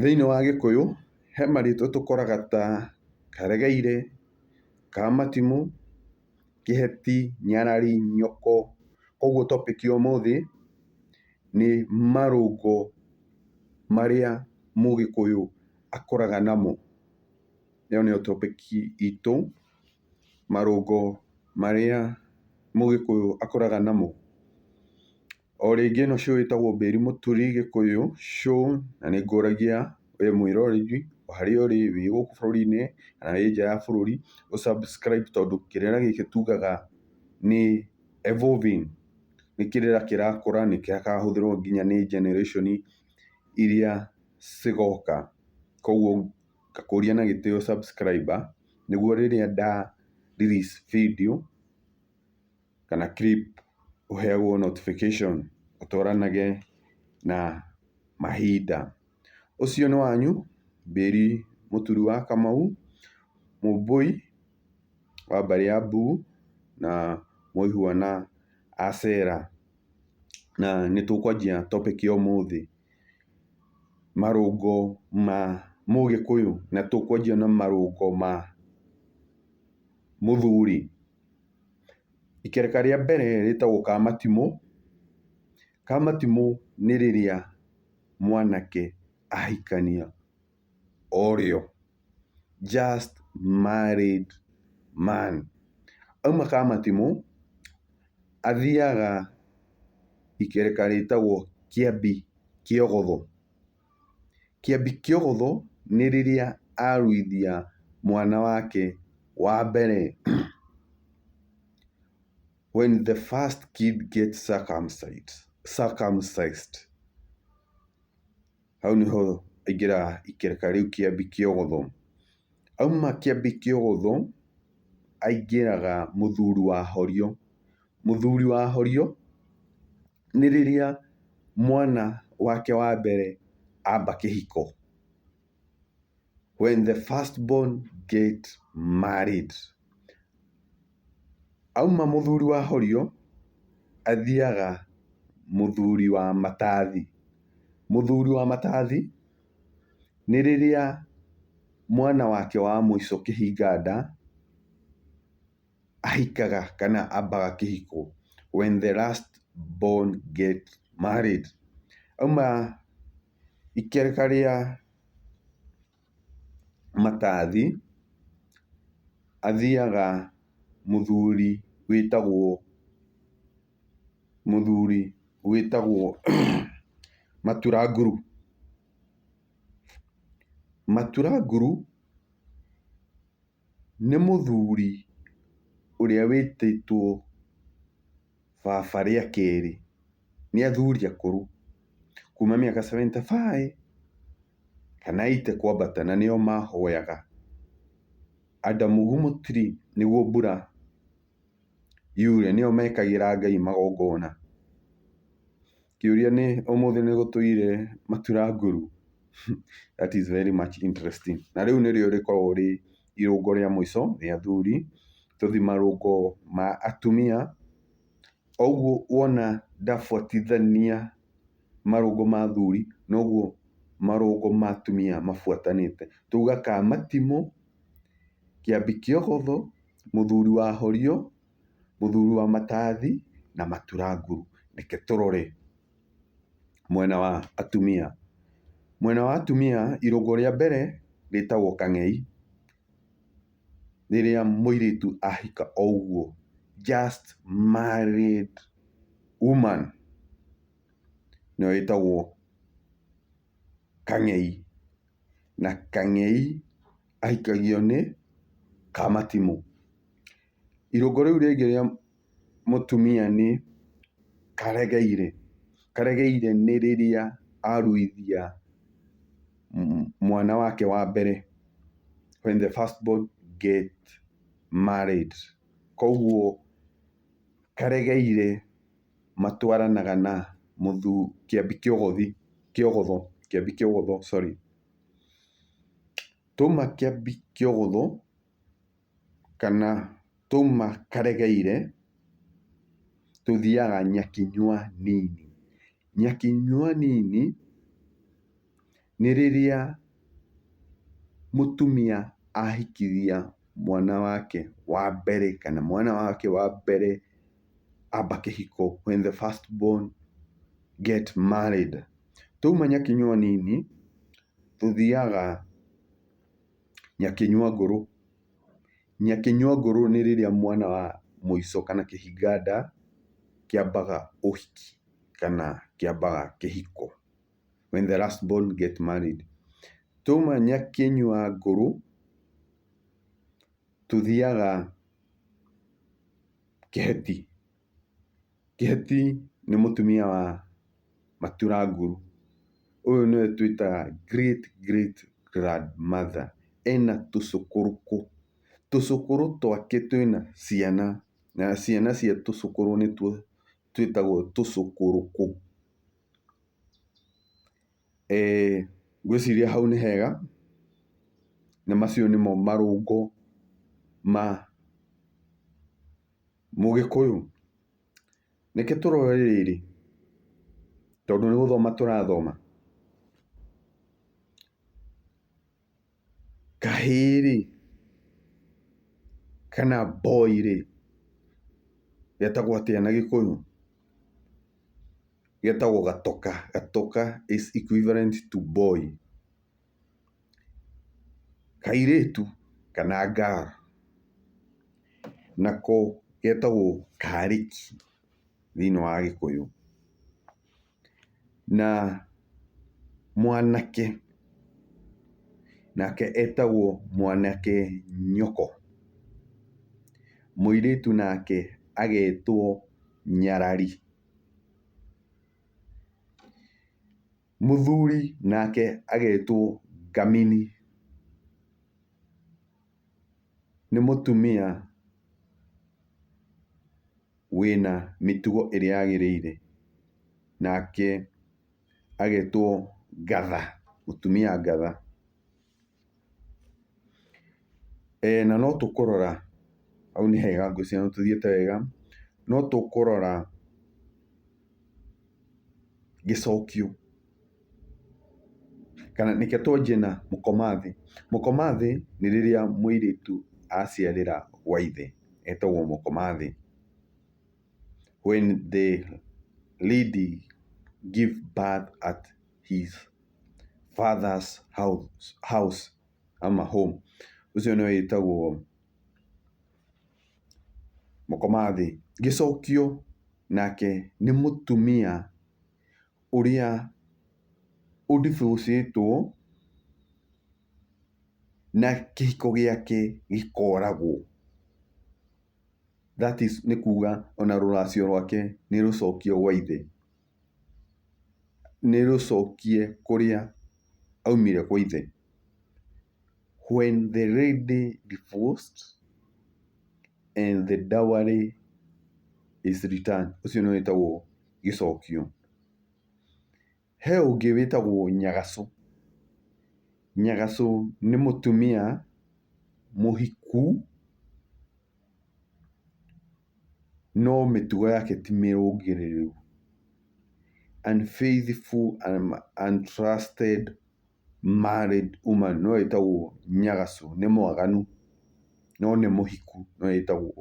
Thĩiniĩ wa gĩkũyũ, he marĩtwa tũkoraga ta karegeire, kamatimũ, kĩheti, nyarari, nyoko. Koguo topic ya ũmũthĩ nĩ marũngo marĩa mũgĩkũyũ akũraga namo. Ĩyo nĩyo topic itũ, marũngo marĩa mũgĩkũyũ akũraga namo. O rĩngĩ ĩno show ĩtagwo Mbĩri Mũturi Gĩkũyũ Show, na nĩ ngũragia wee mwĩroreri o harĩa ũrĩ, wĩ gũkũ bũrũri-inĩ kana wĩ nja wa bũrũri, ũ subscribe tondũ kĩrĩra gĩkĩ tugaga nĩ evolving, nĩ kĩrĩra kĩrakũra, nĩ gĩkahũthĩrwo nginya nĩ generation iria cigoka. Koguo ngakũria na gĩtĩo subscriber nĩguo rĩrĩa nda release video... kana clip ũheagwo notification ũtwaranage na mahinda. Ũcio nĩ wanyu Bĩri Mũturi wa Kamau, Mũmbũi wa mbarĩ ya Mbugu na Mũihwa na Acera. Na nĩ tũkwanjia topic ya ũmũthĩ, marũngo ma Mũgĩkũyũ, na tũkwanjia na marũngo ma mũthuri. Ikereka rĩa mbere rĩtagwo kamatimũ, kamatimũ nĩ rĩrĩa mwanake ahikania o rĩo, just married man. Auma kamatimũ, athiaga ikereka rĩtagwo kĩambi kĩogotho. Kĩambi kĩa ũhũthũ nĩ rĩrĩa aruithia mwana wake wa mbere, when the first kid gets circumcised. Hau nĩho aingĩra ikereka rĩu kĩambi kĩa ũhũthũ. Auma kĩambi kĩa ũhũthũ, aingĩraga mũthuri wa horio. Mũthuri wa horio... nĩ rĩrĩa mwana wake wa mbere amba kĩhiko. When the first born get married. Auma mũthuri wa horio, athiaga mũthuri wa matathi. Mũthuri wa matathi, nĩ rĩrĩa mwana wake wa mũico kĩhinga nda. ahikaga kana ambaga kĩhiko when the last born get married auma ikereka rĩa matathi, athiaga mũthuri wĩtagwo, mũthuri wĩtagwo matura nguru. Matura nguru. Nĩ mũthuri ũrĩa wĩtĩtwo baba rĩa kerĩ, nĩ athuri akũrũ kuma mĩaka seventy five kana eighty kwambata na nĩo mahoyaga. Adam Gumotiri nĩguo mbura yure nĩo mekagĩra Ngai magongona. Kĩũria nĩ ũmũthĩ nĩ gũtũire matura ngũrũ? That is very much interesting. Na rĩu nĩrĩo rĩkoragwo rĩ irũngo rĩa mũico rĩa athuri, tũthi marũngo ma atumia. O ũguo wona ndabuatithania marũngo ma athuri, noguo marũngo ma atumia mabuatanĩte. Twauga kamatimũ, kĩambi kĩogotho, mũthuri wahorio. mũthuri wa matathi na maturanguru. Reke tũrore mwena wa atumia. Mwena wa atumia irũngo rĩa mbere rĩtagwo kang'ei, rĩrĩa mũirĩtu ahika o ũguo, just married woman, nĩyo ĩtagwo kang'ei. Na kang'ei ahikagio nĩ kamatimũ. Irũngo rĩu rĩngĩ rĩa mũtumia nĩ karegeire. Karegeire nĩ rĩrĩa aruithia mwana wake wa mbere, when the first born get married. Koguo karegeire matwaranaga na kĩambi kĩogothi, kĩogotho, kĩambi kĩogotho, sorry. Twauma kĩambi kĩogotho. kana twauma karegeire, tũthiaga Nyakinyua nini. Nyakinyua nini, nĩ rĩrĩa mũtumia ahikithia mwana wake wa mbere, kana mwana wake wa mbere amba kĩhiko, when the first born get married. Twauma Nyakinyua nini, tũthiaga. Nyakĩnyua ngũrũ. Nyakĩnyua ngũrũ nĩ rĩrĩa mwana wa mũico kana kĩhinga nda kĩambaga ũhiki kana kĩambaga kĩhiko, when the last born get married. Twauma nyakĩnyua ngũrũ, tũthiaga kĩheti. Kĩheti nĩ mũtumia wa matura nguru. Ũyũ nĩwe twĩtaga great great grandmother. Ena tũcũkũrũkũ. Tũcũkũrũ twake twĩna ciana, na ciana cia tũcũkũrũ nĩtuo twĩtagwo tũcũkũrũkũ. Ngwĩciria hau nĩ hega, na macio nĩmo marũngo ma. Mũgĩkũyũ, reke tũrore rĩrĩ, tondũ nĩ gũthoma tũrathoma, kahĩĩ-rĩ, kana boy-rĩ, getagwo atĩa na gĩkũyũ? Getagwo gatoka. Gatoka is equivalent to boy. kairĩtu kana girl nako getagwo karĩki thĩinĩ wa gĩkũyũ. Na mwanake nake etagwo mwanake nyoko. Mũirĩtu nake agetwo nyarari. Mũthuri nake agetwo ngamini. Nĩ mũtumia wĩna mĩtugo ĩrĩa yagĩrĩire. Nake agetwo ngatha, mũtumia ngatha. Na no tũkũrora, hau nĩ hega ngwĩciria nĩ tũthiĩte wega, no tũkũrora gĩcokio, kana reke twanjie na mũkomathi. Mũkomathi nĩ rĩrĩa mũirĩtu aciarĩra gwa ithe, etagwo mũkomathi. When the lady give birth at his father's house ama home. Ũcio nĩwe wĩtagwo mũkomathĩ. Gĩcokio nake nĩ mũtumia ũrĩa ũ divorce ĩtwo na kĩhiko gĩake gĩkoragwo. That is nĩ kuga ona rũracio rwake nĩ rũcokio gwa ithe. nĩ rũcokie kũrĩa aumire kwa ithe. When the lady divorced and the dowry is returned ũcio nĩwe wĩtagwo gĩcokio. He ũngĩ wĩtagwo nyagacũ. Nyagacũ nĩ mũtumia mũhiku no mĩtugo yake ti mĩrũngĩrĩru, unfaithful and untrusted married woman nĩyo ĩtagwo nyagacũ, nĩ mwaganu no nĩ mũhiku nĩyo ĩtagwo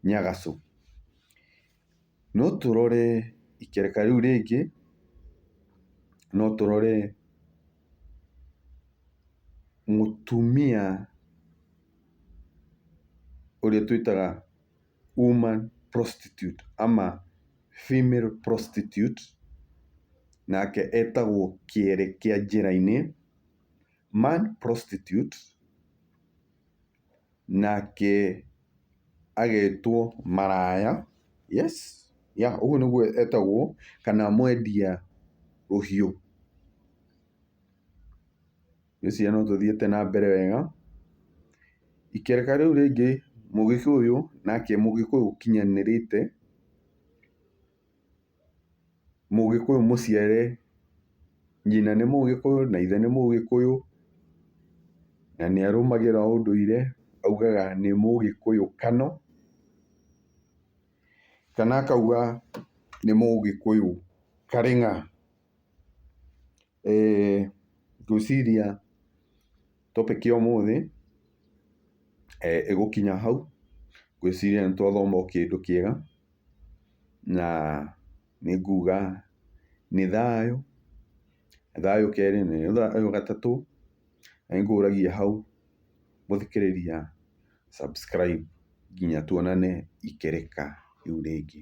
nyagacũ. No tũrore ikereka rĩu rĩngĩ, no tũrore mũtumia. ũrĩa twĩtaga woman prostitute ama female prostitute, nake etagwo kĩere kĩa njĩra-inĩ, man prostitute, nake agetwo maraya, yes, yeah ũguo nĩguo etagwo, kana mwendia rũhiũ. Ngwĩciria no tũthiĩte na mbere wega. Ikereka rĩu rĩngĩ mũgĩkũyũ nake mũgĩkũyũ ũkinyanĩrĩte, mũgĩkũyũ mũciare, nyina nĩ mũgĩkũyũ na ithe nĩ mũgĩkũyũ, na nĩ arũmagĩrĩra ũndũire, augaga nĩ mũgĩkũyũ kano, kana akauga nĩ mũgĩkũyũ karĩ ng'a. Ngwĩciria topic ya ũmũthĩ ĩgũkinya hau, ngwĩciria nĩ twathoma o kĩndũ kĩega, na nĩ nguga nĩ thayũ, thayũ kerĩ, nĩ thayũ gatatũ, na nĩ ngũragia hau gũthikĩrĩria subscribe nginya tuonane ikĩrĩka rĩu rĩngĩ.